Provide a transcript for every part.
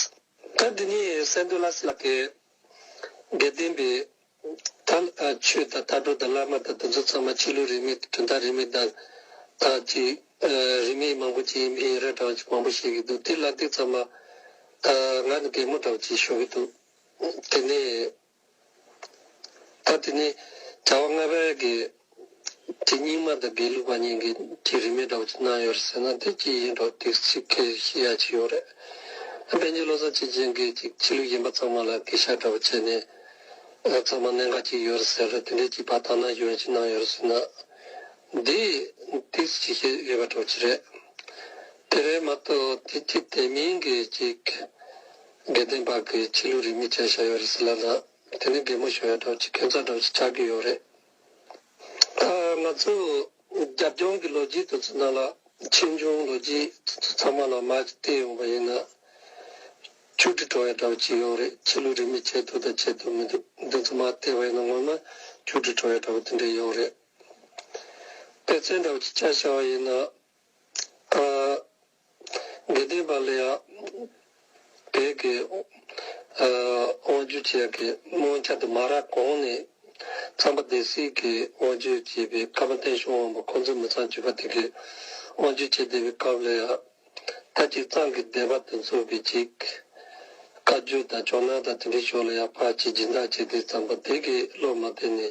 སྐབས་འདི་ནི་སེན་ཏུ་ལཱས་ལགས་ཀྱིས་དགེ་ལྡན་པའི་དར་མཆོད་དང་དར་སྒྲོ་དང་བླ་མ་དང་དེ་ཚོ་ཚང་མ་ཆོས་ལུགས་རིས་མེད་དུ་དོན་དག་རིས་མེད་དང་དང་ཅིག་རིས་མེད་མང་པོ་ཅིག་ཡིན་པའི་རེ་བྲའོ་ཅིག་མང་པོ་བཤད་ཀྱི་འདུག་དེ་ལ་འདི་ཚང་མ་ང་ནི་གད་མོ་འདྲའོ་ཅིག་ཞུ་གི་འདུག་དེ་ནས། ཐབས་དེ་ནི་དྲ་བ་ལྔ་པའི་དགེ་དེ་རྙིང་མ་དང་དགེ་ལུགས་པ་གཉིས་ཀྱི་གྱི་རིས་མེད་འདྲ་བོ་གནང་ཡོད་རེད་ཟེར་ན་དེ་ཅི་ཡིན་འགྲོ་སྡིག་ཚིག་གེ་ཞི་ཡ་ཅིག་ཡོད་རེད། བན་རྒྱུད་ལོ་ཙཱ་བྱེད་ཅན་གྱི་ཅིག་ཕྱི་ལུགས་གཞན་པ་ཚང་མ་ལ་གེ་ཤར་འདྲ་བོ་བྱས་ནས་ཚང་མ་གནད་འགག་ཅིག་ཡོད་རེད་ཟེར་རེད་དེ་འདྲའི་ཅིག་བར་ཐག་ན་གཞོན་ཞིག་གནང་ཡོད་རེད་ཟེར་ན་འདིས་སྡིག་ཚིག་ཅིག་བཤད་ཡོད་པ་འདྲ་བོ་ཅིག་རེད། དེ་བས་མ་གཏོགས་དེ་ཅི་བདེན་མིན་གྱི་ཅིག་དགེ་ལྡན་པ་གི་ཕྱི་ལུས་རིས་མེད་བྱས་བཞག་ཡོད་རེད་ཟེར་ལབ་ལ་དེ་ནི་དགེ་མོ་ཞོ་ཡ་གྲོགས་ཀྱི་ཁེ་མཚར་གྲོགས་ཀྱི་ཆགས་རྒྱུ་ཡོད་རེད། ང་ཚོ་རྒྱབ་ལྗོངས་ཀྱི་ལོ་རྒྱུས་དུ་ཚོད་ན་ལ་ཆེ་ཆུང་ལོ་རྒྱུས་དེ་ཚོ་ཚང་མ་ལ་མ་ཅིག་བལྟས་ཡོང་པ་ཡིན་ན། ཆུ་གྲི་གྲོགས་ཡ་གྲོགས་ཅིག་ཡོད་རེད་ཕྱི་ལུས་རིས་མེད་བྱས་འདུག་དང་བྱས་འདུག་མི་འདུག་འདི་ཚོ་མ་བལྟས་པ་ཡིན་ན་ངོ་མ་ཆུ་གྲི་གྲོགས་ཡ་གྲོགས་དེ་འདྲས་ཡོད་རེད། དཔེ་ཚན་གྲོགས་ཀྱི་ཆ་ཤར་བ་ཡིན་ན། དགེ་ལྡན་པ་ལས་བགེགས་ཀྱི་དབང་བསྒྱུར་བྱེད་ཀྱི་དབང་ཆ་དུ་མ་ར་གོང་ནས་ཚངས་པ་སྡེ་སྲིད་ཀྱི་དབང་བསྒྱུར་བྱེད་པའི་སྐབས་བསྟན་བྱུང་དབང་པོ་ཁོང་ཚོས་མི་ཚངས་སྤྱོད་པ་དེ་གའི་དབང་བསྒྱུར་བྱེད་བདེ་བའི་སྐབས་ལ་ཡང་ཐ་ཅིག་ཚངས་ཀྱི་སྡེ་པ་དུ་འཚོ་བའི་ཅིག། བཀའ་བརྒྱུད་དང་ཕྱོགས་ནང་དང་དེ་འབྲེལ་ཕྱོགས་ལ་ཡང་ཕར་ཕྱིན་སྦྱིན་བདག་བྱས་ཏེ་ཚངས་པ་སྡེ་དགེའི་སློབ་མ་དེ་ནས་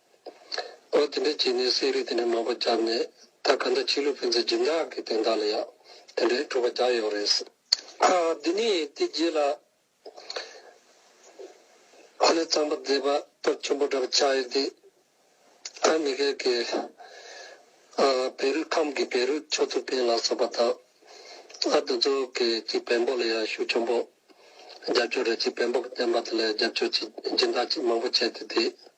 ཨོ་དེ་འདྲ་བྱས་ནས་གསེར་རིགས་དེ་འདྲ་མང་པོ་བརྒྱབ་ནས་ད་ག་འདྲ་ཕྱི་ལུགས་ཕན་ཚུན་སྦྱིན་བདག་གི་དོན་དག་ལ་ཡག་དེ་འདྲའི་གྲུབ་པ་རྒྱག་ཡོང་རེད། དེ་ནས་དེ་རྗེས་ལ། ཨ་ནེ་གཙང་པོ་མཛེས་པ་སྟོབས་ཆེན་པོ་འདྲ་བོ་ཆགས་ཡོད་དེ། ཨ་མི་ཀེལ་གྱི། བེ་རུས་ཁམས་ཀྱི་བེ་རུས་ཆོས་ཐུབ་བསྟན་ལགས་སོགས་པ་དང། ཨ་འདི་ཚོ་གི་ཅིག་བེམ་པོ་ལ་ཡང་ཤུགས་ཆེན་པོ། རྒྱབ་སྐྱོར་རེད་ཅིག་བེམ་པོ་གི་བསྟན་པ་དེ་ལ་རྒྱབ་སྐྱོར་ཅིག་སྦྱིན་བདག་ཅིག་མང་པོ་བྱས་ཏེ་དེ།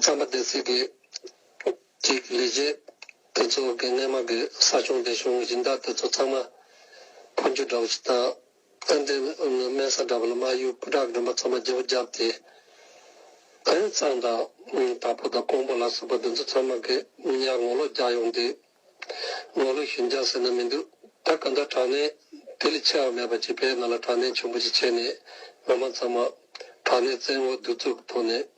རྩམ་པ་འདེབས་ཚུལ་གྱི་གཅིག་ལས་གཞན། དེ་ཚོ་དགེ་བསྙེན་མ་གི་ས་ཆུང་སྡེ་གཞུང་སྦྱིན་བདག་དེ་ཚོ་ཚང་མ་འཕོ་འགྱུར་འདྲ་པོ་ཞིག་དང། ཨན་ཏེ་དམན་ས་འདྲ་པོ་ལ་མ་ཡུལ་སྐུ་དྲག་དགོན་པ་ཚང་མ་བརྗེ་བོ་བརྒྱབ་སྟེ། དཔོན་གཙང་དང་དྲ་ཕོ་དང་ཀོང་པོ་ལ་སོགས་པ་དེ་ཚོ་ཚང་མ་དགེ་བསྙེན་ངོ་ལོག་རྒྱག་ཡོང་དུས། ངོ་ལོག་ཞུན་རྒྱག་ཟེར་ན་མི་འདུག་ད་ག་ཟླ་དྲག་གནས་དེ་ལས་ཆེ་བ་མེད་པ་ཅིག་བས་ང་ལ་དྲག་གནས་ཆུང་པོ་ཅིག་བྱས་ནས་ང་མ་ཚང་མ་དྲག་གནས་བཙན་འོག་བསྡུ་བཙུགས་ཐོག་ནས།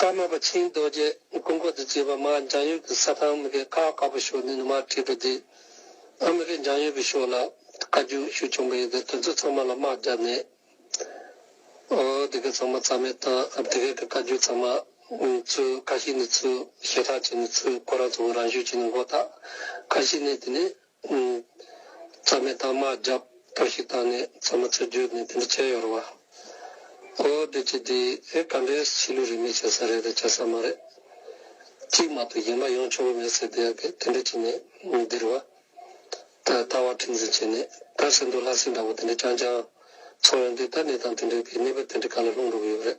ཀརྨ་པ་ཆེན་རྡོ་རྗེས་སྐུ་འཁོར་དུ་བཅས་པ་མར་འཇང་ཡུལ་གྱི་ས་ཁང་མི་ཁའི་ཁ་དཀར་པོ་ཤོག་ནས་ནུ་མར་ཁྲིད་པ་དེ་ཨ་མི་ཁའི་འཇང་ཡུལ་གྱི་ཤོག་ལ་བཀའ་བརྒྱུད་ཞུ་བྱུང་པ་ཡིན་ཏེ་དེ་ཚོ་ཚང་མ་ལ་དམག་བརྒྱབ་ནས་དེ་གའི་ཚང་མ་རྩ་མེད་བཏང་དེ་གའི་གི་བཀའ་བརྒྱུད་ཚང་མ་ཚུར་བཀའ་ཤི་ནས་ཚུར་ཞེ་ཐག་བྱས་ནས་ཚུར་ཁོ་རང་ཚོ་བོད་རང་བཞུགས་བྱས་ནས་མགོ་བཏགས་བཀའ་ཤི་ནས་དེ་ནས། རྩ་མེད་དང་མ་བརྒྱབ་པ་ཞིག་དང་ནི་མཚན་མོ་ཚེ་རྒྱུད་ནི་དེ་འདྲ་བྱས་ཡོད་རེད་བ། ཨོ་བདེ་སྐྱིད་འདི་ཨེ་ག་འདྲའི་བྱིས་ལུས་རིས་མེད་བྱེད་ས་རེད་དེ་བྱེད་ས་མ་རེད། གཅིག་མ་གཏོགས་གཞན་པ་ཡོང་ཆོག་གི་མེད་ཟེར་བསྡད་ཡག་གི་དེ་འདྲ་བྱས་ནས་འདིར་བ། ད་ལྟ་བ་ཁྲིམས་འཛིན་བྱས་ནས་ད་བསད་འདུག་ལྷ་སྲིན་འདྲ་བོ་དེ་འདྲ་རྐྱང་རྐྱང་ཚོགས་ཡོང་དུས་ད་ནི་དང་དེ་འདྲའི་བའི་གནས་བབ་དེ་འདྲའི་ག་ལ་ལྷུང་འགྲོ་གི་ཡོད་རེད།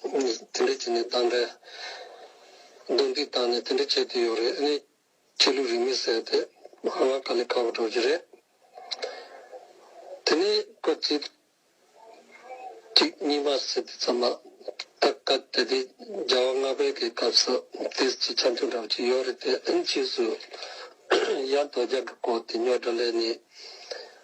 དེ་འདྲ་བྱས་ནས་བཏང་འདྲ། རྡུང་རྡེག་བཏང་ནས་དེ་འདྲ་བྱས་དུས་ཡོད་རེད་ཨ་ནི། ཁྱེད་ལུས་རིས་མི་གསལ་ཏེ་ཨ་ང་དཀའ་ལས་ཁག་པོ་འགྲོ་རྒྱུ་རེད། དེ་ནས་སྐབས་གཅིག་གཅིག་གཉིས་མ་ཟེར་དུས་ཙམ་མ་ཐག་བཀའ་གཏེར་སྡེ་རྒྱ་བ་ལྔ་པའི་གི་སྐབས་སུ་དེ་སྤྱི་ཆ་མཐུན་འདྲ་བོ་ཅིག་ཡོད་རེད་དེ་ཨ་ནི་ཕྱིས་སུ། ཡར་རྡོ་རྒྱག་གི་སྐོར་དེ་ཉོག་དྲ་ལས་ནི།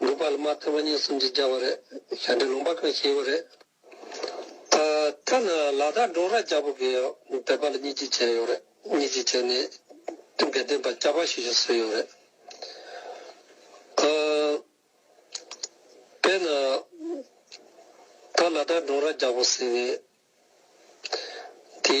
འགྲུབ་པ་ལ་མ་ཐོས་པ་གཉིས་སུམ་ཅུ་བརྒྱ་བ་རེད། ཞལ་འདྲེན་ལུང་པ་གང་ཞིག་ཡོད་རེད། ད་ལྟ་ན་ལ་དྭགས་འབྲོག་ར་རྒྱ་བོད་ཀྱི་བོད་པ་ལ་གཉིས་གཅིག་བྱས་ཡོད་རེད། གཉིས་གཅིག་བྱས་ནས་དེ་འགལ་ལྡན་པ་སྐྱག་པ་ཞིག་ཞིག་བཟོས་ཡོད་རེད། དཔེར་ན། ད་ལ་དྭགས་འབྲོག་ར་རྒྱ་བོད་ཟེར་བའི་དེ།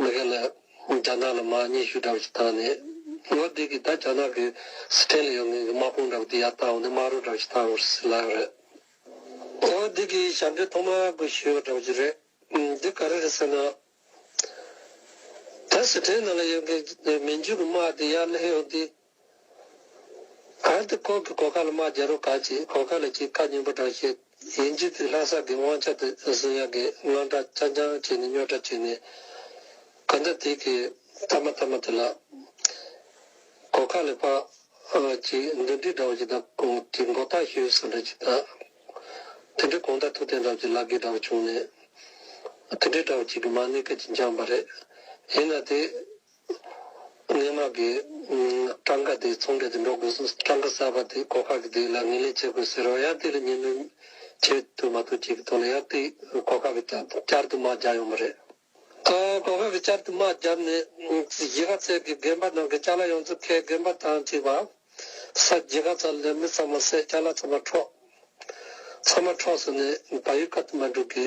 མི་རེ་ལ་རྒྱ་ནག་ལ་མ་སྙེས་ཤུགས་འདྲ་པོ་ཞིག་བཏང་ནས། ངོ་བདེ་གི་ད་རྒྱ་ནག་གི་སི་ཐན་ལ་ཡོད་མཁན་གི་དམག་དཔུང་འདྲ་པོ་དེ་ཡར་བཏང་བ་ནི་དམག་རོགས་འདྲ་པོ་ཞིག་བཏང་བར་སྲིད་ལ་རེད། ངོ་བདེ་གི་ཞབས་འདྲེན་ཐོག་མ་གི་ཞུས་པ་འདྲ་པོ་ཞིག་རེད། འདི་ག་རེ་རེད་ཟེར་ན། ད་སི་ཐན་ནང་ལ་ཡོད་མཁན་གྱི་མི་འཇུག་གི་དམག་དེ་ཡར་སླེབས་ཡོང་དུས། གལ་ཏེ་ཁོང་གིས་གོ་ཁ་ལ་མ་བརྒྱབ་རུང་ག་ཅིག་གོ་ཁ་ལ་ཅིག་ཁ་སྙན་པོ་བསྒྲགས་ཤེས་ཡིན་རྒྱུ་དེ་ལྷ་སར་གི་དབང་ཆ་དེ་བཟུང་ཡག་གི་བློ་འདྲ་ཆ་འགྱངས་བྱས་ནས་རྙོག་དྲ་བྱས་ནས་གང་འདྲ་དེ་གི་མཐའ་མ་མཐའ་མ་དེ་ལགས། གོ་ཁ་ལ་པ་ཅིག་འདུ་འདྲིས་འདྲ་བོ་ཅིག་དང་གོང་གི་མགོ་བཏགས་ཤོས་ཟེར་འདྲ་ཅིག་དང། དེ་འདྲའི་གོང་ད་ཐུག་བསྟན་འདྲ་བོ་ཅིག་ལག་གི་འདྲ་བོ་བྱུང་ནས། དེ་འདྲའི་འདྲ་བོ་ཅིག་གི་མ་གནས་སྐད་ཅིག་འགྱངས་པ་རེད། ཡིན་ན་དེ། སྣེ་མང་གིས། གྲངས་ཀ་དེའི་ཚོང་འབྲེལ་དུ་འགྲོ་དགོས་སོང་གྲངས་ཀ་གསར་པ་དེ་གོ་ཁ་གི་དེ་ལ་ངེས་ལེན་བྱེད་དགོས་ཟེར་རོགས་ཡར་དེ་ལ་ངེས་ལེན་བྱེད་ཐུབ་མ་ཐུབ་ཅིག་གི་ཐོག་ལ་ཡར་དེ་གོ་ཁ་གི་བསྐྱར་དུ་མ་རྒྱག་ཡོང་གི་རེད། གོ་ཁ་གི་བསྐྱར་དུ་མ་བརྒྱབ་ནས་གཞིས་ཀ་རྩེ་གི་རྒན་པ་ནང་གི་སྐྱ་ལ་ཡོངས་རྫོགས་ཁའི་རྒན་པ་དང་གཅིག་པ། ས་གཞིས་ཀ་ཚ་ལས་མི་ཚང་མ་བསད་སྐྱ་ལ་ཚང་མ་འཕྲོག། ཚང་མ་འཕྲོག་སོང་ནས་བ་ཡུལ་ཁ་དུ་མ་འགྲུག་གི།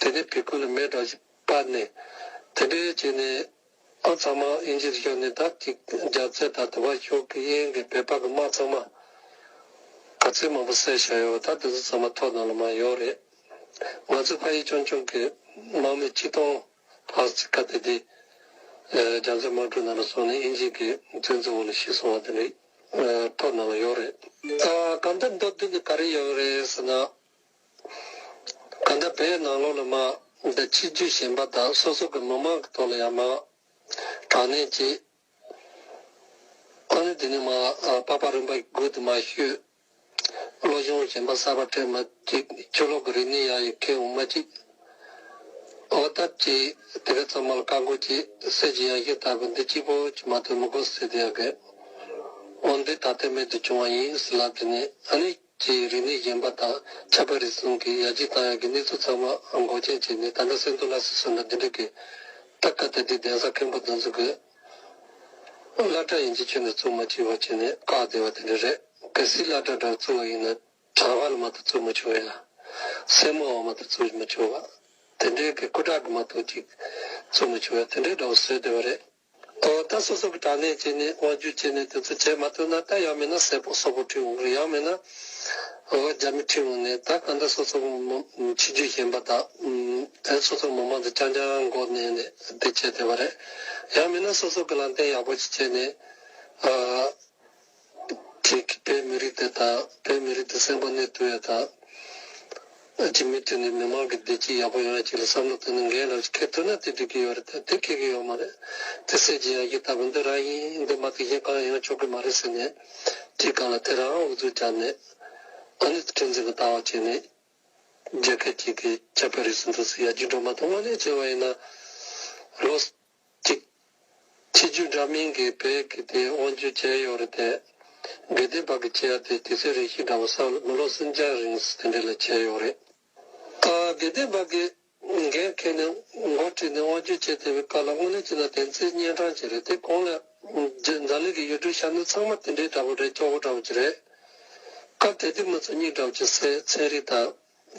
དེ་ནས་བི་ཀུ་ལ་མའི་སྒྲ་བཞི་པ་ནི། དེ་འདྲའི་རྗེས་ནས་ཨ་ཚང་མ་དབྱིན་ཇིར་ཤོར་ནས་བདག་གཅིག་རྒྱ་བཙལ་དང་དུ་བ་ཤོག་གི་དབྱིན་གྱི་བོད་པ་གི་མ་ཚང་མ་ག་ཚོད་མང་པོ་བསད་བཞག་ཡོད་བ་ད་དེ་ཚོ་ཚང་མ་ཐོག་ནང་ལ་མ་ཡོང་རེད། ང་ཚོའི་ཕ་ཡུལ་ཆུང་ཆུང་གི་དམག་མི་གཅིག་སྟོང་ལྷག་ཅིག་ག་དེ་དུས་རྒྱ་མཚོའི་དམག་གྲུ་ནང་ལ་སོང་ནས་དབྱིན་ཇིའི་གི་བཙོན་འཛུལ་འོག་ལ་ཤི་སོང་བ་དེ་འདྲའི་ཐོག་ནང་ལ་ཡོད་རེད། གང་ལྟར་མདོར་བསྡུས་ནས་ག་རེ་ཡོང་གི་རེད་ཟེར་ན། གང་ལྟར་བོད་ནང་ལོགས་ལ་མང། འདི་ཕྱི་རྒྱུད་གཞན་པ་དག་སོ་སོ་གི་མི་མང་གི་ཐོག་ལ་ཡང་མང། དྲང་གནས་གཅིག། ཨ་ནི་འདི་ནས་མང། པགས་པ་རིམ་པ་དགུ་དུ་མ་ཤོད། བློ་གཞུང་གཞན་པ་གསར་པ་ཕྲད་མ་གཅིག། ཆོས་ལོག་གི་རིག་གནས་ཡག་ཡོད་ཁེ་འོང་མ་གཅིག། འོ་སྟབས་གཅིག། དེ་ག་ཚང་མ་ལ་བཀའ་བསྒོ་གཅིག་གསེར་གྱི་ཡང་ཞུན་ལྟ་བུ་འདི་གཅིག་པོ་གཅིག་མ་ཐོན་མི་གོ་ཟེར་དུ་ཡང་དགོས། འོ་འདི་ད་ལྟ་མེད་དུ་བྱུང་བ་ཡིན་ཟེར་ལབ་དེ་ནས་ཨ་ནི། ཀྱི་རིག་གནས་གཞན་པ་དང་ཁྱད་པར་རེ་ཟུང་གིས་ཡར་རྒྱས་བཏང་ཡོད་ཀྱི་གནས་ཚུལ་ཚང་མ་མགོ་མཁྱེན་བྱས་ནས་ད་ལྟ་སེང་རྡོར་ལགས་སུ་སོན་ན་འདི་འདྲ་གི་སྟབས་ཀ་དེ་དེའི་གདན་ས་མཁན་པོ་འདོན་ཟུག་གི་བླ་གྲྭ་ཡིན་གྱི་ཁྱོད་ནས་བཙུགས་མ་བྱིས་པ་ཁྱོད་ནས་བཀག་བསྡད་པ་དེ་འདྲ་རེད་གལ་སྲིད་བླ་གྲྭ་འདྲ་བཙུགས་བ་ཡིན་ན་དྲ་བ་ལ་མ་གཏོགས་བཙུགས་མ་བྱུང་ཡ་སེར་མོ་བ་མ་གཏོགས་བཙུགས་མ་བྱུང་བ་དེ་འདྲའི་གི་སྐུ་དྲག་གི་མ་གཏོགས་ཅིག་བཙུགས་མ་བྱུང་ཡ་དེ་འདྲའི་འདྲ་བོ་བཟོས་བསྡད་པ་རེད། ཨོ་རྟ་སོ་སོ་གི་དྲ་གནས་བཅས་ནས་དབང་བསྒྱུར་བྱས་ནས་དེ་ཚོ་བྱེད་མ་ཐུབ་ན་རྟ་ཡག་མེད་ན་སེར་པོ་སོག་པོ་ཁྲིད་འོང་གི་རེད་ཡག་མེད་ན་ཨོ་རྒྱ་མི་ཁྲིད་འོང་ནས་ད་ག་འདྲ་སོ་སོ་གི་ཕྱི་རྒྱུད་གཞན་པ་དག་དེ་སོ་སོ་གི་མི་མང་དུ་རྐྱང་རྐྱང་མགོ་མནན་ནས་དེ་བྱས་དེ་བ་རེད་ཡག་མེད་ན་སོ་སོ་གི་ལམ་བསྟན་ཡག་པོ་ཞིག་བྱས་ནས་ཨོ། ཁྱེད་ཀྱིས་དཔལ་མི་རིགས་དེ་དང་དཔལ་མི་རིགས་དེ་སེམས་པ་གནས་བསྡུ་བའི་དང། ཨ་ཅེ་མི་མཐུན་ནས་མི་མང་གི་བདེ་སྐྱིད་ཡག་པོ་ཡོང་ཡ་གཅིག་ལ་བསམ་བློ་བཏོན་ན་འགན་རེད་བཞིན་ཁེར་བསྡུ་ན་དེ་འགྲིག་གི་ཡོད་རེད་དེ་ཁེག་གི་ཡོད་མ་རེད་དེ་སེ་ཇི་ཡང་ཡིག་ལྟ་བུ་འདི་རང་ཡིན་འདི་མ་དེ་གཞན་གང་ཡང་ཆོག་གི་མ་རེད་ཟེར་ནས་ཁྲིད་གང་ལ་དེ་རང་ཨུ་ཚུགས་བྱ་ནས་ཨ་ནི་ཁྲིད་འཛིན་གི་ལྟ་བ་བྱེད་ནས་རྒྱལ་ཁད་ཅིག་གི་ཆ་བོད་རིགས་སུ་འདུག་ཟེར་ཡ་རྒྱུ་འགྲོ་མ་ཐོག་མ་ནས་བྱས་བ་ཡིན་ན་ལོ། གཅིག། ཕྱི་རྒྱུད་འདྲ་མིན་གྱི་བལ་གྱི་དེ་དབང་བརྒྱུད་བྱས་ཡོད་རེད་དེ། དགེ་ལྡན་པ་གི་ཆེད་དེ་དུས་ཚོད་རེ་ཞིག་འདྲ་བ་ས་མི་ལོ་སུམ་བརྒྱ་རིང་དེ་འདྲ་ལ་བྱས་ཡོད་རེད། དགེ་ལྡན་པ་གི་འགན་འཁེལ་ནས་མགོ་ཁྲིད་ནས་དབང་བརྒྱུད་བྱས་དེ་བའི་བཀའ་ལ་དངོས་གནས་ཅི་ལ་དེ་ཚེ་གཉན་འཕྲང་ཅིག་རེད་དེ་གོང་ལ་རྫ་ལེགས་ཀྱི་ཡུལ་གྲུ་ཤར་ནུབ་ཚང་མ་དེ་འདྲའི་འདྲ་པོ་རེད་སྐྱོ་བོ་འདྲ་བོ་ཅིག་རེད། སྐབས་དེ་དུས་མི་ཚོ་སྙིང་འདྲ་བོ་ཅིག་སེ་ཚན་རིག་དང།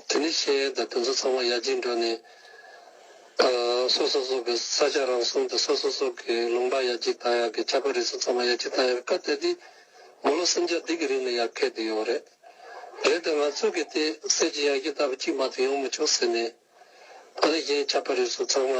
དེ་ནས་ཤེས་ཡོན་དང་དེ་ཚོ་ཚང་མ་ཡར་རྒྱས་འགྲོ་ནས། སོ་སོ་སོ་གི་ས་ཆ་རང་སྲུང་དང་སོ་སོ་སོ་གི་ལུང་པ་ཡར་རྒྱས་བཏང་ཡག་གི་ཁྱད་པར་རིགས་ཚོ་ཚང་མ་ཡར་རྒྱས་བཏང་ཡག་གི་སྐབས་དེ་དུས། མོ་ལོ་སེམས་ཅག་འདི་གི་རིང་ནས་ཡར་འཁེལ་དུ་ཡོང་རེད། རེད་དེ་ང་ཚོ་གི་དེ་སེམས་ཅི་ཡར་རྒྱས་ལྟ་བུ་གཅིག་མ་གཏོགས་ཡོང་མི་ཆོག་ཟེར་ནས། ད་ནི་གཞན་ཁྱད་པར་རིགས་ཚོ་ཚང་མ།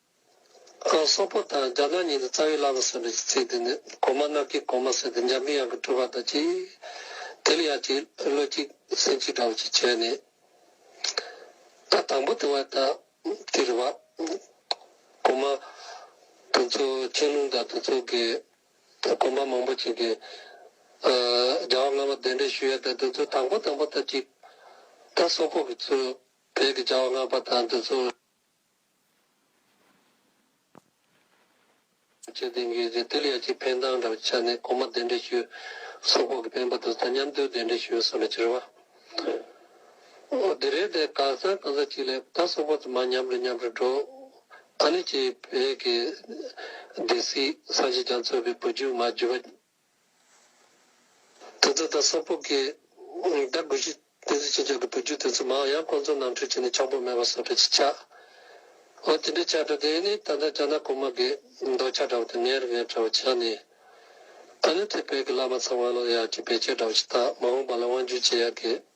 སོག་པོ་དང་རྒྱ་ནག་གཉིས་ནི་རྩ་བའི་བླ་མ་ཟེར་བའི་ཚིག་དེ་ནི་གོང་མ་གནམ་གྱི་གོང་མ་ཟེར་ཏེ་འཇམ་པའི་དབྱངས་ཀྱི་སྤྲུལ་པ་དང་གཅིག། དེ་ལ་ཡ་གཅིག་བློ་གཅིག་སེམས་གཅིག་འདྲ་བོ་ཅིག་བྱས་ནས། ད་དང་པོ་དེ་བ་ད་དེ་རེད་བ། གོང་མ་དོན་གཙོ་ཆན་ལུང་དང་དོན་གཙོ་གི་གོམ་པ་མང་པོ་ཅིག་གིས། རྒྱལ་བ་སྔ་མ་གདན་འདྲེན་ཞུ་ཡ་དང་དོན་གཙོ་དང་པོ་དང་པོ་ད་གཅིག། ད་སོག་པོ་གི་ཚུལ་བོད་ཀྱི་རྒྱལ་བ་སྔ་པ་དང་དོན་གཙོ། བཅས་གདན་འདྲེན་བྱས་ཏེ་དེ་ལ་ཡར་གྱི་འཕེན་སྟངས་འདྲ་བའི་ཆ་ནས་གོང་མ་གདན་འདྲེན་ཞུས་སོགས་ཁོག་གི་འཕེན་པ་དང་ཐ་མཉམ་དུ་གདན་འདྲེན་ཞུས་སོགས་ལ་ཅེར་བ། དེ་རེད་དེ་གང་ས་གང་ས་ཅིག་ལས་ད་སོག་པོ་དུ་མ་མཉམ་རེ་མཉམ་རེ་འགྲོ་ཨ་ནི་ཅེས་བོད་ཀྱི་སྡེ་སྲིད་སངས་རྒྱས་རྒྱ་མཚོ་བའི་བུ་རྒྱུད་མ་རྒྱུད་པ། དེ་ཚོ་དང་སོག་པོ་གིས་བདག་དགོས་གཞི་བདེན་རྫུན་ཅི་འཇོག་གི་བུ་རྒྱུད་དེ་ཚོ་མང་ཡང་ཁོང་ཚོ་ནང་ཁྲོལ་བྱས་ནས་ཆོག་པོ་མེད་པ་སོག་པའི་སྤྱི་ཆགས་འོ་དེ་འདྲའི་ཆགས་སྒྲ་དེ་ནི་ད་ལྟ་རྒྱ་ནག་གོང་མ་གི་འདོགས་ཆགས་འདྲ་བོ་དེ་ངན་རི་ངན་འདྲ་བོ་ཆགས་ནས་ད་ནི་ཐེ་བལ་གི་བླ་མ་ཚང་བ་ལོ་ཡག་གི་བེད་སྤྱོད་འདྲ་བོ་ཞིག་དག་མ་འོངས་པ་ལ་དབང་བསྒྱུར་བྱེད་ཡག་གི།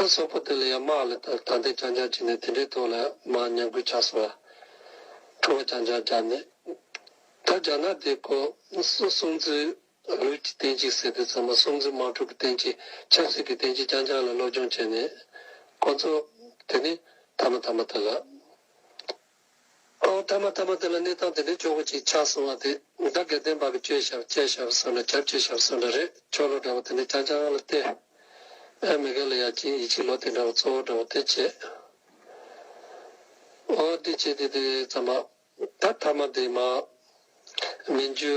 ཨ་སོག་པོ་དེ་ལ་ཡང་དམག་ལས་དང་དྲང་བདེན་རྐྱང་རྐྱང་བྱས་ནས་དེ་འདྲའི་ཐོག་ལ་དམག་ཉམས་རྒུད་ཆགས་སོང་ལ། ཁྲོ་བོ་རྐྱང་རྐྱང་རྒྱབ་ནས། ད་རྒྱ་ནག་དེ་ཁོ་སོ་སུམ་བརྩེགས་ལུས་ཀྱི་བསྟན་བྱའི་ཟེར་དེ་ཚང་མ་སུམ་བརྩེགས་དམག་འཁྲུག་གི་བསྟན་བྱའི་ཆབ་སྲིད་ཀྱི་བསྟན་བྱའི་རྐྱང་རྐྱང་ལ་སློབ་སྦྱོང་བྱས་ནས། ཁོ་ཚོ་དེ་ནི་ཐ་མ་ཐ་མ་དག་ལ། ཨོ་ཐ་མ་ཐ་མ་དེ་ལ་གནས་སྟངས་དེ་འདྲའི་ཆོག་གོ་ཅིག་ཆགས་སོང་བ་དེ་འདྲ་དགེ་ལྡན་པ་པོ་བཅོས་ཞབས་བཅད་ཞབས་སོང་འདྲ་གྱབ་བྱེད་ཞབས་སོང་འདྲ་རེད་ཆོག་ལོ་འདྲ་བོ་དེ་འདྲ་རྐྱང་རྐྱང་ལ་བལྟས་ཨེ་མི་དགའ་ལ་ཡ་ཅིན་ཡིད་ཆེས་ལོ་དེ་འདྲ་བོ་གཙོ་བོ་འདྲ་བོ་དེ་བྱས་ཨོ་དེ་བྱས་དེ་དེ་ཙམ་པ་ད་ཐ་མ་དེ་མ་མི་འཇུ།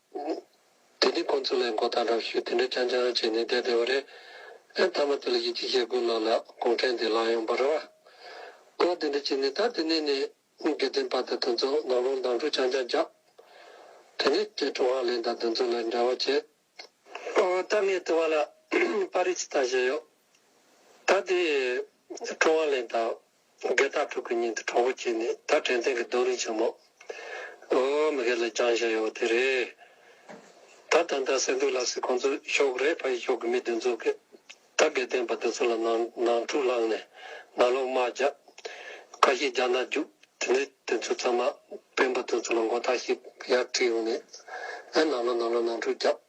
དེ་ནས་ཁོང་ཚོ་ལ་མགོ་བཏགས་རབས་ཞུས་དེ་འདྲ་རྐྱང་རྐྱང་རང་བྱས་ནས་བསྡད་བསྡད་པ་རེད། ཨེ་མཐའ་མ་དེ་ལ་ཡིད་ཆེས་བྱེད་དགོས་ལགས་ལ་གུང་ཁྲན་དེ་ལངས་ཡོང་པར་རོགས་རོགས་དེ་འདྲ་བྱས་ནས་ད་དེ་ནས་ནས་དགེ་ལྡན་པ་དང་དོན་གཙོ་ནག་རོང་མདང་དྲུག་རྐྱང་རྐྱང་རྒྱབ། དེ་ནས་བཅས་ཀྲུང་ཧྭ་ལེན་དང་དོན་གཙོ་ལ་འབྲེལ་བ་བྱེད། ད་ངས་དེ་བ་ལ་པར་རིས་དང་བཞེས་ཡོད། ད་དེ་ཀྲུང་ཧྭ་ལེན་དང། དགེ་རྟག་ཕྲུག་གི་སྙིང་དུ་གྲོགས་པོ་བསྐྱེད་ནས་ད་དྲན་ཐེངས་ཀྱི་རྡོ་རིང་ཆེན་མོ་འོའོ་མི་སྒེར་ལ་རྒྱང་བཞག་ཡོང་བ་དེ་རེད། ད་ད་ལྟ་སེ་འབྲུག་ལགས་སི་ཁོང་ཚོ་ཤོག་རེད་ཕ་ཡི་ཤོག་གི་མི་དེ་ཚོ་གི་ད་དགེ་ལྡན་པ་དེ་ཚོ་ལ་ནང་འཁྲུག་བསླངས་ནས་ནང་ལོག་དམག་རྒྱག་ཁ་ཤས་རྒྱག་ན་རྒྱུག་དེ་ནས་དེ་ཚོ་ཚང་མ་སྤེན་པ་དེ་ཚོ་ལ་མགོ་ཐག་ཤིག་ཡར་ཁྲིད་ཡོང་ནས་ནང་ལོག་ནང་ལོག་ནང་འཁྲུག་རྒྱག།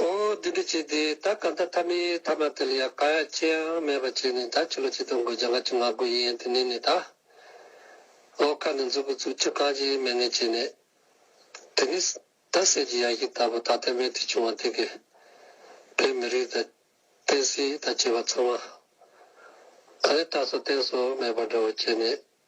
ཨོ། འདི་འདྲ་བྱས་ཏེ་ད་ག་ད་ཐ་མའི་ཐ་མ་དེ་ལ་ཡང་ཀ་ཡ་ཅི་ཡང་མེད་པར་བྱས་ནས་ད་ཕྱི་ལོ་ཆིག་སྟོང་དགུ་བརྒྱ་ང་གཅིག་ང་དགུ་ཡིན་དེ་ནས་ནས་ད། ཨོ་ཁ་ནས་འཛུགས་གི་འཛུགས་ཕྱི་གང་ཅིའི་མེད་ནས་བྱས་ནས། དེ་ནས། ད་ཟས་ཀྱི་ཡ་གྱི་ད་བུ་ད་ཐ་མའི་དེ་བྱུང་བ་དེ་གས། བོད་མི་རིགས་ད། བསྟན་སྲིད་ད་བྱས་པ་ཚང་མ། ད་ནས་ད་སོ་བསྟན་སོ་མེད་པ་འདྲ་བོ་བྱས་ནས་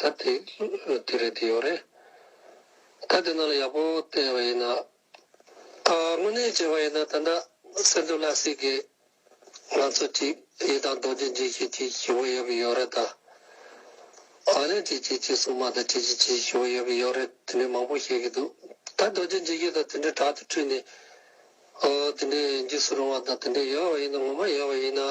ད་དེ་དེ་རེད་དེ་ཡོད་རེད། ད་དེ་ནང་ལ་ཡག་པོ་བལྟས་པ་ཡིན་ན། དངོས་གནས་བྱས་པ་ཡིན་ན་ད་ནི་སེམས་སྡུག་ལ་སྲིད་དགོས། ང་ཚོ་ཅིག་ཡིད་དང་རྡོ་རྗེ་འཇིགས་ཤིག་ཅིག་ཞུ་བོ་ཡོད་པའི་ཡོད་རེད་ད། ཨ་ལེ་ཅིག་ཅིག་ཅིག་སྲུང་མ་ད་ཅིག་ཅིག་ཅིག་ཞུ་བོ་ཡོད་པའི་ཡོད་རེད་དེ་འདྲའི་མང་པོ་བཤད་གི་འདུག་ད་རྡོ་རྗེ་འཇིགས་ཤིག་ད་དེ་འདྲའི་དྲག་ཏུ་ཁྲིད་ནས། དེ་འདྲའི་འཇིགས་སུ་རུང་བ་ད་དེ་འདྲའི་ཡོད་པ་ཡིན་ན་ངོ་མ་ཡོད་པ་ཡིན་ན།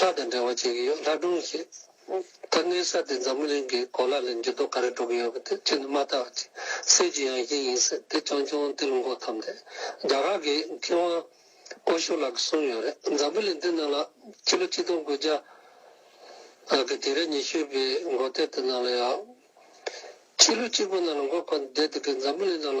ལྷ་དང་འབྲེལ་བ་བྱེད་ཀྱི་ཡོད་ལྷ་སྒྲུང་ཞེས། ད་གནས་ས་དེ་འཛམ་བུ་གླིང་གི་གོ་ལ་ལས་འགྱུར་ལྡོག་ག་རེ་འགྲོ་གི་ཡོད་པ་དེ་ཁྱེད་ནི་མ་ལྟ་བ་ཅི་སེ་ཅི་ཡང་ཞིག་ཡིན་སྲིད་དེ་ཆུང་ཆུང་དེ་ལ་འགོ་འཐོམས་ཏེ་རྒྱ་གར་གྱི་མཁས་དབང་ཨོ་ཤོ་ལགས་གསུངས་ཡོད་རེད་འཛམ་བུ་གླིང་འདི་ནང་ལ་ཕྱི་ལོ་གཅིག་སྟོང་དགུ་བརྒྱ་གི་དུས་རབས་ཉི་ཤུ་པའི་མགོ་སྟོད་དུ་ནང་ལ་ཡང་ཕྱི་ལོ་གཅིག་པོ་ནང་ལ་འགོ་འཁོར་འདས་དེ་གའི་འཛམ་བུ་གླིང་ནང་ལ་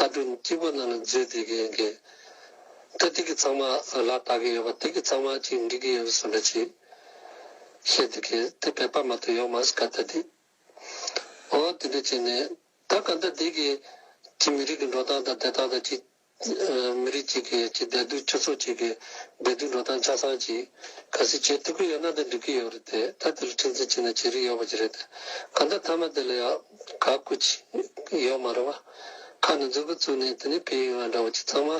ལྟ་གྲུབ་སྐྱིད་པོ་རྣམས་ལ་མཛོད་བསྡུས་ཀྱི་ཡིན་གི། ད་ཏིག་གི་ཚང་མ་ལ་བལྟ་གི་ཡོད་པ་ཏིག་གི་ཚང་མ་གཅིག་འགྲིག་གི་ཡོད་པ་ཟེར་བ་ཅིག་བཤད་འདུག་གི་དེ་བེད་སྤར་མ་ཐུབ་ཡོང་མ་སྐད་བརྡ་འདི། འོ་དེ་འདྲ་བྱས་ནས་ད་ག་ཟླ་འདི་གི་གཅིག་མི་རིགས་ཀྱི་འགྲོ་སྟངས་དང་བསྡད་སྟངས་དང་གཅིག་མི་རིགས་གཅིག་གི་གཅིག་བསྡད་འདུག་སྤྱི་ཚོགས་གཅིག་གི་བསྡད་འདུག་འགྲོ་སྟངས་ཆ་ཚང་གཅིག་ག་སེ་བྱེད་ཐུབ་ཀྱི་ཡོད་ན་ད་འགྲིག་གི་ཡོད་རེད་དེ་ད་དེ་ལ་ཁྲིམས་འཛིན་བྱས་ན་བྱེད་རིན་ཡོད་པ་ཅིག་རེད་དེ་ག་ཟླ་མཐའ་མ་དེ་ལ་ཡང། ག་སྐུ་ཅིག་ཡོད་མ་རེད་བ། ཁ་ནས་མཛུབ་མོ་བཙུགས་ནས་དེ་ནས་བེའུ་ཡོང་བ་འདྲ་བོ་ཅིག་ཚང་མ།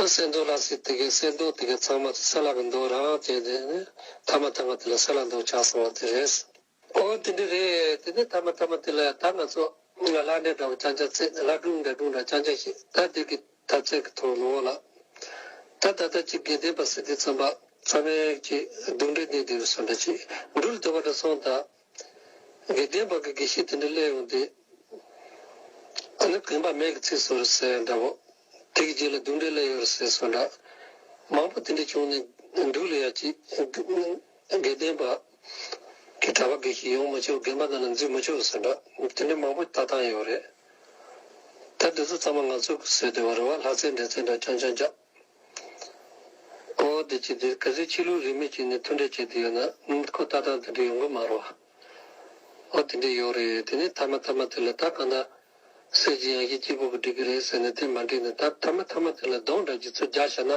ཨ་གསེར་མདོག་ལགས་སེ་དེ་གའི་གསེར་མདོག་དེ་གའི་ཚང་མ་ཚོ་གསེར་ལག་གི་མདོག་རང་རང་བྱས་ནས་མཐའ་མ་མཐའ་མ་དེ་ལ་གསེར་ལག་མདོག་ཆགས་སོང་བ་དེ་རེད། ཨོ་དེ་འདྲ་རེད་དེ་ནས་མཐའ་མ་མཐའ་མ་དེ་ལ་ད་ང་ཚོ་ལ་ལ་འདྲེ་འདྲ་བོ་ཅང་ཅང་བརྩེགས་ནས་ལ་སྒྲུང་འདྲ་སྒྲུང་འདྲ་ཅང་ཅང་བཤད་ད་དེ་གའི་ཐབ་ཚད་ཀྱི་ཐོག་ལོག་ལ། ད་ད་ལྟ་ཅིག་དགེ་ལྡན་པ་སི་ཏི་ཚང་པ་ཚང་མས་ཅིག་སྡུག་འདྲེ་གནས་འདི་རུ་སོང་འདྲ་ཅིག་འགྲུལ་དེ་བ་འདྲ་སོང་ད། དགེ་ལྡན་བག་གི་དགེ་བཤེས་དེ་འདྲ་སླེབས་ཡོང་དུས། ཨ་ནི་གོན་པ་མེད་ཀི་ཚིག་སོ་རུ་ཟེར་འདྲ་བོ། དེ་གི་རྗེས་ལ་སྡུག་འདྲེ་སླེབས་ཡོང་རུ་ཟེར་སོ་འདྲ། མང་པོ་དེ་འདྲས་བྱུང་ནས་འདུག་ལ་ཡ་ཅིག། དགེ་ལྡན་བག་གི་གྲྭ་པ་དགེ་བཤེས་ཡོང་མི་ཆོག་རྒན་པ་རྣམས་ལ་འཛུལ་མི་ཆོག་སོ་འདྲ། དེ་འདྲས་མང་པོ་ལྟ་སྟངས་ཡོད་རེད། ད་འདི་ཚོ་ཚང་མ་ང་ཚོ་གི་སོས་དེ་བ་རུ་བ་ལྷ་རྩེད་འདྲེ་རྩེད་འདྲ་ཆང་ཆང་བཅག། ཨོ་ཨོ་བདེ་སྐྱིད་བདེ་གལ་སྲིད་ཁྱི་ལུད་རིས་མེད་ཅིག་ནས་མཐུན་འབྲེལ་བྱེད་དུ་ཡོད་ན་ནིང་ཁོ་ལྟ་སྟངས་དེ་འདྲ་ཡོང་གི་མ་རོ། ཨོ་དེ་འདྲས་ཡོག་རེད་དེ་ནས་མཐའ་མ་མཐའ་མ་དེ་ལ་ད་གང་ཟག་སེར་གྱི་ཡང་ཞིག་སྐྱིད་པོ་གི་འགྲིག་གི་རེད་ཟེར་ནས་དེ་མ་འགྲིག་ནས་ད་མཐའ་མ་མཐའ་མ་དེ་ལ་གདོང་འདྲ་གྱི་ཚུལ་རྒྱག་ཤག་ན།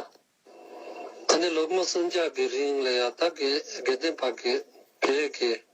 ད་ནི་ལོ་ངོ་སུམ་བརྒྱ་གི་རིང་ལ་ཡང་ད་གེ་རྒན་བརྟེན་པར་གེ་རེད་གེ།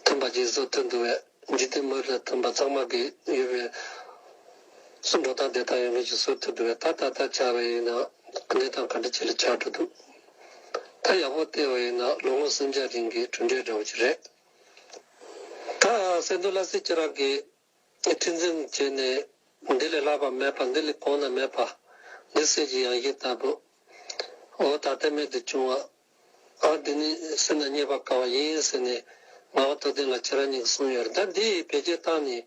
མཐུན་པ་རྗེས་སུ་མཐུན་འདུག་བས་འཇིག་རྟེན་མི་ལ་མཐུན་པ་གཙང་མ་གི་ཡོད་པས་སུ་འགྲོ་སྟངས་བདེ་ཐང་ཡོད་མཁན་ཞིག་བཟོ་ཐུབ་འདུག་བས་ད་ད་ལྟ་བྱ་བ་ཡིན་ན་གནས་སྟངས་ག་འདྲ་ཅི་ལ་ཆགས་འགྲོ་འདུག་ད་ཡག་པོ་བལྟས་བ་ཡིན་ན་ལོ་ངོ་སུམ་བརྒྱ་རིང་གི་གྲུབ་འབྲས་འདྲ་བོ་ཅིག་རེད་ད་སེ་འདོད་ལ་སེ་ཁྱེད་རང་གིས། ཏེ་ཏིང་འཛིན་བྱས་ནས། འདི་ལས་སླ་བ་མེད་པ་འདི་ལས་གོང་ན་མེད་པ། འདི་གསེར་གྱི་ཡང་ཞིང་ལྟ་བུ། འོ་ད་ལྟའི་མེད་དུ་བྱུང་བ། ཨང་འདི་ནི་སེམས་ལ་རྙེད་པར་དཀའ་བ་ཡིན་ཟེར་ནས། ངག་བཏོད་ལྡན་ལ་ཁྱེད་རང་གཉིས་ཀྱིས་གསུངས་ཡོད་རེད་ད་འདི་ཡི་བེད་སྤྱད་སྟངས་ནི།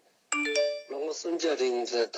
ལོ་ངོ་སུམ་བརྒྱ་རིང་ཟེར་ད།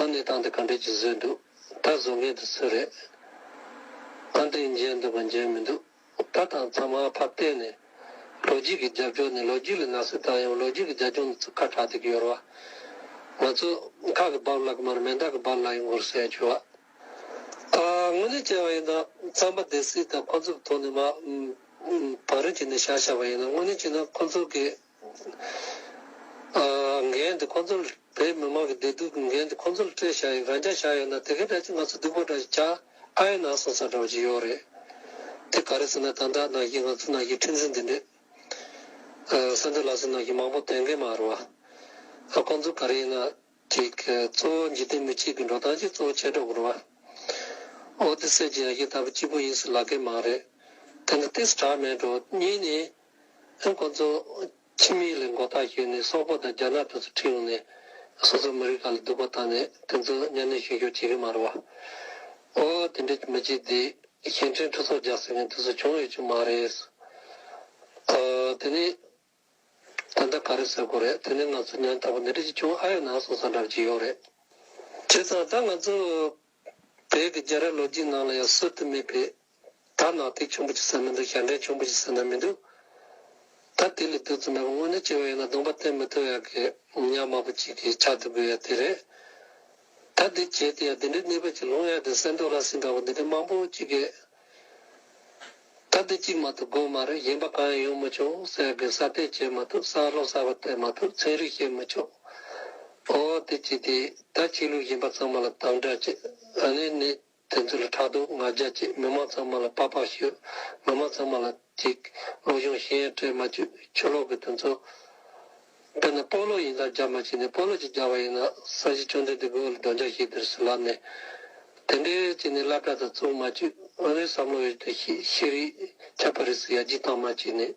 ཨ་ནེ་བཏང་སྟེ་ག་འདྲས་ཀྱིས་བཟོས་འདུག་ད་བཟོ་མཁན་དེ་སུ་རེད། ཨ་འདྲས་མཇལ་འདུག་པ་མཇལ་མི་འདུག་ད་དང་ཚང་མ་ཕར་བལྟས་ནས། ལོ་རྒྱུས་ཀྱི་རྒྱབ་ལྗོངས་ནི་ལོ་རྒྱུས་ལ་ནག་སེལ་བཏང་ཡང་ལོ་རྒྱུས་ཀྱི་རྒྱབ་ལྗོངས་ནི་ཚུར་ཁ་གྲགས་ཏེ་ཡོད་ར་བ། ང་ཚོ། མཁའ་གི་རྦབ་རླག་མར་མེ་མདག་གི་རྦབ་རླག་ཡིན་སྐོར་བཤད་བྱུང་བ། ཨ་དངོས་གནས་བྱས་པ་ཡིན་ན་རྩམ་པ་འདེད་སྲིད་དང་ཁོ་ཚོ་གི་ཐོག་ནས་མ། བག་རེ་བྱས་ནས་བྱ་བྱ་བ་ཡིན་ན་དངོས་གནས་བྱས་ན་ཁོ་ཚོ་གི། འགན་དེ་ཁོང་ཚོར་བོད་མི་མང་གི་བདེ་སྡུག་གི་འགན་དེ་ཁོང་ཚོར་སྤྲོད་བཞག་ཡིན་རང་ཅག་བཞག་ཡོད་ན་དེ་གའི་སྒྲ་ཅིག་ང་ཚོ་སྡུག་པོ་འདྲ་ཞིག་བྱ་ཨ་ཡེ་ན་སོང་ས་འདྲ་བོ་ཅིག་ཡོད་རེད་དེ་ག་རེ་ཟེར་ན་དང་དྲག་ནང་བཞིན་ང་ཚོ་ནང་བཞིན་ཁྲིམས་འཛིན་འདི་འདྲས་ས་འདི་ལ་སོང་ནང་བཞིན་མང་པོ་དོན་གེ་མ་རུ་བ་ཁོང་ཚོ་ག་རེ་ཡིན་ན་ཅིག་གཙོ་བོ་འཇིག་རྟེན་མི་གཅིག་གི་འགྲོ་སྟངས་ཅིག་གཙོ་བོ་ཆད་འགྲོ་གི་རུ་བ་ཨོ་དེ་སེར་གྱི་ཡ་གྱལ་ལྟ་བུ་གཅིག་པོ་ཡིན་སུ་ལ་གེ་མ་རེད་དེ་འདྲ་སྟེ་སྒྲ་མེད་འགྲོ་གཉིས་ནི། ཨེ་ཀོ་ཛོ། ཁྱིམ་མིའི་ལས་འགོ་ཐག་གཅོད་ནས་སོག་པོ་དང་རྒྱ་ནག་དེ་ཚོ་ཁྲིད་ཡོང་ནས་སོ་སོའི་མི་རིགས་ག་ལ་སྡུག་པ་བཏང་ནས་དེ་ཚོ་གཉའ་གནོན་བྱེད་ཞོར་བྱེད་ཀྱི་མ་རེད་བ། ཨོ། དེ་འདྲའི་མི་སྤྱི་དེ་གཞན་འཕྲིན་ཁྲུ་ཚོགས་རྒྱག་ཟེར་མཁན་དེ་ཚོ་བྱུང་ཡོད་ཀྱི་མ་རེད། ཨོ། དེ་ནས་ད་ལྟ་ག་རེ་ཟེར་དགོས་རེད་དེ་ནས་ང་ཚོ་ཉམ་ཐག་པ་འདི་འདྲ་ཅིག་བྱུང་ཨ་ཡོད་ན་སོང་སོང་འདྲ་བྱེད་ཡོད་རེད། བྱས་ཙང་ད་ང་ཚོ་དེའི་གི་རྒྱ་ར་ལོ་རྒྱུས་ནང་ལ་ཡང་སྲོལ་དུ་མེད་པའི། ད་ནག་ཐིག་ཆུང་པོ་ཅིག་ཟ་མི་འདུག་ཞབས་འདྲེན་ཆུང་པོ་ཅིག་ཟ་ན་མི་འདུག། ད་དེ་ལས་སྡུག་ཙམ་མེད་པ་དངོས་གནས་སྐྱེ་བ་ཡོད་ན་གདོང་པ་བསྟན་མི་ཐུབ་ཡག་གི་ཉག་དམར་པོ་ཅིག་གིས་ཕྱག་བསྡུ་དགོས་ཡག་དེ་རེད། ད་འདི་བྱས་དེ་ཡང་འདི་འདྲའི་གནས་བབ་ཅིག་ལོང་ཡག་དེ་སེམས་སྡུག་ལ་སེམས་དྲག་པོ་འདི་འདྲའི་དམངས་པོ་ཅིག་གིས། ད་འདི་གཅིག་མ་ཐུབ་དགོས་མ་རེད་གཞན་པ་གང་ཡང་ཡོང་མི་ཆོག་ཟེར་དགོས་ས་བལྟས་བྱེད་མ་ཐུབ་གསར་ལོག་གསར་པ་བལྟས་མ་ཐུབ་ཚན་རིག་ཤེས་མི་ཆོག་ཨོ་དེ་ཅི་དེ་ད་ཆོས་ལུགས་གཞན་པ་ཚང་མ་ལ་དམ་དྲག་བྱེད་ཨ་ནི་ནི་དེ་ཚོ་ལ་ཕྲག་དོག་ང་རྒྱལ་བྱེད་མི་མང་ཚང་མ་ལ་པགས་པགས་ཤོད་མི་མང་ཚང་མ་ལ། གཅིག། བློ་སྦྱོང་གཞན་ཡང་སྤྲོས་མ་བཅུ་ཆུ་ལོག་གི་དོན་གཙོ། དཔེར་ན་སྤོ་ལོ་ཡིན་ལ་སྦྱར་མ་བྱས་ནས་སྤོ་ལོ་ཅིག་སྦྱར་བ་ཡིན་ན་ས་གཞི་བཅོམ་ལྡན་འདས་གོས་ལ་སྒྲོན་ཆགས་ཤིག་དེར་སུ་ལབ་ནས། དེ་འདྲའི་བྱས་ནས་བསླབ་གྲྭ་དང་བཙུན་མ་བཅུ་འོན་བའི་བསམ་བློ་ཡོད་དུ་ཤེས་རིག་ཁྱབ་པ་རིགས་སུ་ཡ་བརྒྱུད་གཏང་མ་བྱས་ནས།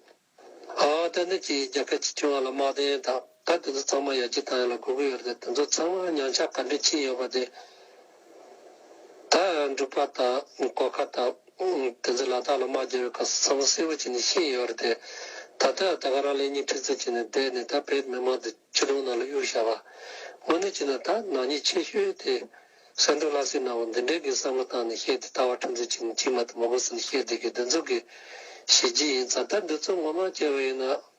ཨ་བ་ཏན་ཏན་གྱིས་རྒྱ་སྐད་ཅིག་ཆུང་བ་ལ་དམག་དོན་དང། ད་དེ་ཚོ་ཚང་མ་ཡར་རྒྱས་བཏང་ཡོད་ལ་དགོས་ཀྱི་ཡོད་རེད་དེ་ཚོ་ཚང་མ་ཉམས་ཆག་ག་འདྲས་ཕྱིན་ཡོད་པ་དེ་དག་འབྲུག་པ་དང་གོ་ཁ་དང་དེ་ཚོས་ལ་དྭགས་ལ་དམག་རྒྱག་པའི་སྐབས་སུ་ཚང་མ་གསལ་བོ་བྱས་ནས་ཤེས་ཡོད་རེད་དེ། ད་ལྟ་ཡང་ད་ག་རང་ལེགས་ཉེས་ཁྲིག་རྩིས་བྱས་ནས་བསྡད་ནས་ད་བོད་མི་དམངས་དེ་ཕྱི་དྲོང་ནང་ལ་གཡུག་བཞག་པ། དངོས་གནས་བྱས་ན་ད་ནག་ཉེས་ཆེ་ཤོས་དེ་སེང་འབྲུག་ལྷ་སྲིན་ནག་པོ་འདི་འདྲས་ཀྱིས་བསམ་བློ་བཏང་ནས་བཤད་དེ་ལྟ་བ་ཁྲིམས་རྩིས་བྱས་ནས་ཕྱི་མ་དེ་མ་གོ་ཟིན་བཤད་བསྡད་ཀྱི་འདི་ཚོ་གི་བྱས་རྗེས་ཡིན་ཙང་ད་འདི་ཚོ་ངོ་མ་སྐྱེ་བ་ཡིན་ན་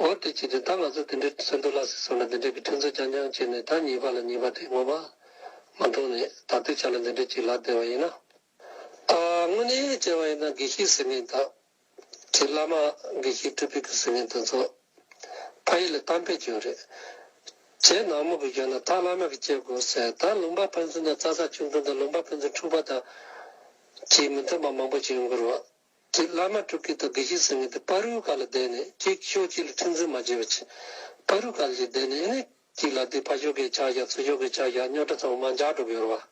འོར་དེ་ཅི་དེ་ད་ང་ཚོ་དེ་འདྲའི་སེམས་འདུལ་ལགས་སེ་སོང་ལ་འདི་འདྲའི་གི་ཕྲན་ཚུགས་རྐྱང་རྐྱང་བྱས་ནས་ད་གཉིས་པ་ལ་གཉིས་པ་དེ་ངོ་མ་མ་མཐོང་ནས་ད་ལྟའི་ཆ་ལ་འདི་འདྲའི་གི་ལག་བདེ་བ་ཡིན་ན། དངོས་གནས་བྱས་བ་ཡིན་ན་དགེ་བཤེས་ཟེར་མཁན་དག་གི་བླ་མ་དགེ་བཤེས་སྤྲུལ་སྤེལ་གི་ཟེར་མཁན་དེ་ཚོ་ཕ་ཡུལ་ལ་གཏམ་དཔེ་བྱོན་རེད་བྱས་ནག་མོ་གི་ཡོད་ན་ད་བླ་མ་གི་བྱས་དགོས་ཟེར་ད་ལུང་པ་ཕན་ཚུན་དང་རྩ་ས་ཆུང་ཆུང་དང་ལུང་པ་ཕན་ཚུན་འཁྲུག་པ་དག་གིས་མི་མཐུན་པ་མང་པོ་བྱས་འགོར་བ། ཀྱི་བླ་མ་དྲུག་གིས་ད་གེ་ཞིག་ཟེར་ངེས་ཏེ་དཔའ་རུའི་བཀའ་ལ་བཟླས་ནས་ཅིག་ཤོས་གཅིག་ལ་ཁྲིམས་འཛིན་མ་བྱས་པ་ཅི། དཔའ་རུའི་བཀའ་ལ་ཅིག་བཟླས་ནས་ནི། གཅིག་ལ་དེ་ཕ་ཤོག་གེ་ཆག་བཞག་ཚུལ་ཤོག་གེ་ཆག་བཞག་རྙོག་དྲ་ཚང་མ་འཇགས་འགྲོ་གི་ཡོད་རེད་བ།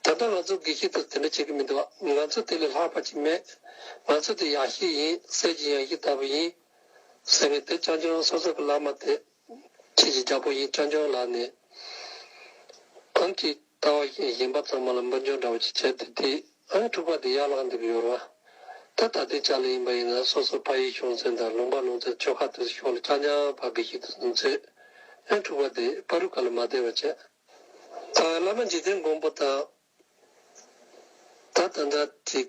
ད་ལྟ་ང་ཚོ་དགེ་བཤེས་ཚོས་དེ་འདྲ་བྱེད་ཀྱི་མི་འདུག་ང་ཚོས་དེ་ལས་ལྷག་པ་ཅིག་མེད། ང་ཚོས་དེ་ཡག་ཤེས་ཡིན་གསེར་གྱི་ཡང་ཤེས་ལྟ་བུ་ཡིན། ཟེར་ངེས་ཏེ་བྱང་ཆུབ་དབང་སོ་སོ་གི་བླ་མ་དེ། ཁྱེད་ཀྱི་རྒྱ་པོ་ཡིན་སྤྱང་སྤྱང་ལགས་ནས། ཨང་ཀི་ལྟ་བ་ཞིག་ཡིན་པ་ཚང་མ་ལ་འབུར་འཇོག་འདྲ་བོ་ཞིག་བྱས་ཏེ་དེ་ཨང་དྲུག་པ་དེ་ཡར་བླངས་འདུག་ཡོར་བ། ད་ད་ལྟའི་ཆ་ལ་ཡིན་པ་ཡིན་ན་སོ་སོ་ཕ་ཡིས་ཤོང་ཚན་དང་ལུང་པ་ལོང་ཚན་ཆོལ་ཁ་དེ་ཚོ་ཤོར་ལ་སྤྱང་སྤྱང་བ་གི་ཞིག་ཏུ་ཟིན་ཚོད། ཨང་དྲུག་པ་དེ་པ་རུ་ཁ་ལ་མ་བསྡད་པ་བྱས། ད་བླ་མ་འཇིག་རྟེན་མགོན་པོ་དང། ད་ད་འདྲ་ཅིག།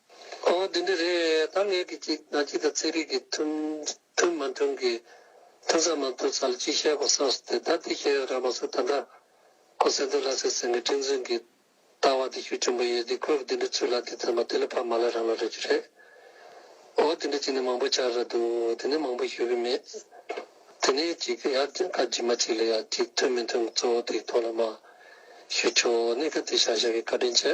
ཨོ་དེ་འདྲ་རེད་ད་ངས་ཀྱི་ཅིག་ང་ཅིག་དང་ཚེ་རིང་གིས་མཐུན་མཐུན་མ་མཐུན་གི་མཐུན་ས་མ་མཐུན་ས་ལ་ཅིག་བཤད་དགོས་བསམ་སོང་དེ་ད་དེ་བཤད་ཡོད་རང་མ་ཚོས་ད་ལྟ་ཁོ་སེ་འདོད་ལ་སེ་སེ་ངས་ཁྲིམས་འཛིན་གི་ལྟ་བ་དེ་ཞུ་ཆེན་པོ་ཡོད་དེ་ཁོས་དེ་འདྲ་ཚུལ་ལ་དེ་ཚོད་མ་དེ་ལ་ཕ་མ་ལ་རང་ལ་རེད་རྒྱུ་རེད་ཨོ་དེ་འདྲ་ཅིག་ནས་མང་པོ་ཆགས་ར་འདུག་དེ་ནས་མང་པོ་ཞུ་གི་མེད་དེ་ནས་ཅིག་ཡར་རྒྱང་ཁ་རྗི་མ་ཅིག་ལ་ཡར་ཅིག་མཐུན་མི་མཐུན་གཙོ་བོ་དེ་གི་ཐོག་ལ་མ་ཞུ་ཆོག་གནས་སྐབས་དེ་ཤག་ཤག་གི་བཀའ་དྲིན་ཆེ།